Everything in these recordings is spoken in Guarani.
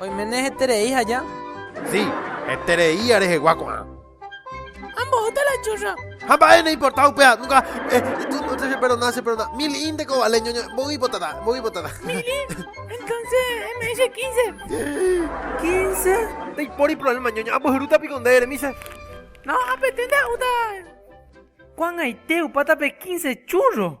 Oiméne heterei haja. Sí, heterei ia rehegua ko'ã. Ha mbohóta la churra. Ha mba'e ne importa upéva, nunka eh, se perdona, se perdona. Mil in de ko vale, ñoño, mboy botada, mboy botada. Mil in, entonces me dice quince. Quince? Te pori problema, ñoño, ambohyruta piko nde remise. No, apetente ajuda. Kuangaite upáta pe quince churro.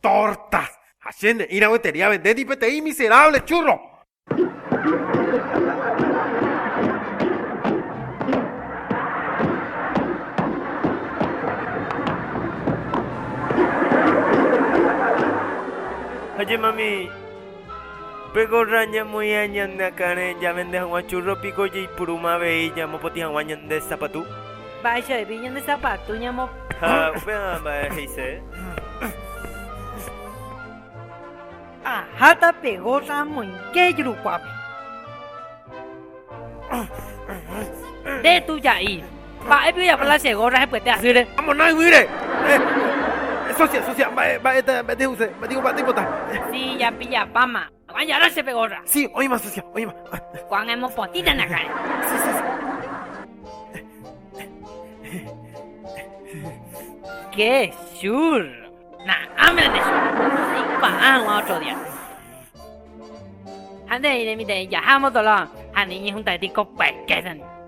Tortas! Ha che ne'ĩrã guetería vendéndi peteĩ miserable churro. Oye mami, pe gorra ñamoĩa ñane akãre ñavende hag̃ua churro piko jaipuruma avei ñamopotĩ hag̃ua ñande sapatu? Mba'eichavépi ñande sapatu ñamo. Ha upéva mba'e he'ise? Aháta pe gósa amoinge ijurukuápe. Nde tuja'i, mba'épe ojapo la che gósa hepyete asýre? Amona yvýre. Sósia, sósia, mba'e, mba'e, mba'e nde he'ise? Mba'éiko, mba'e nde ipota? Sí, japillapáma. Nomán yará chepe gorra. Sí, oĩma sucia, oĩma. Juan emopotĩta nakãe. Sí, sí, sí. ¡Qué churro! Na'áme ne churro. Pa'agua otro día. Ande iré mi de yaja motolón. Ande ñejunta de tico pequeño.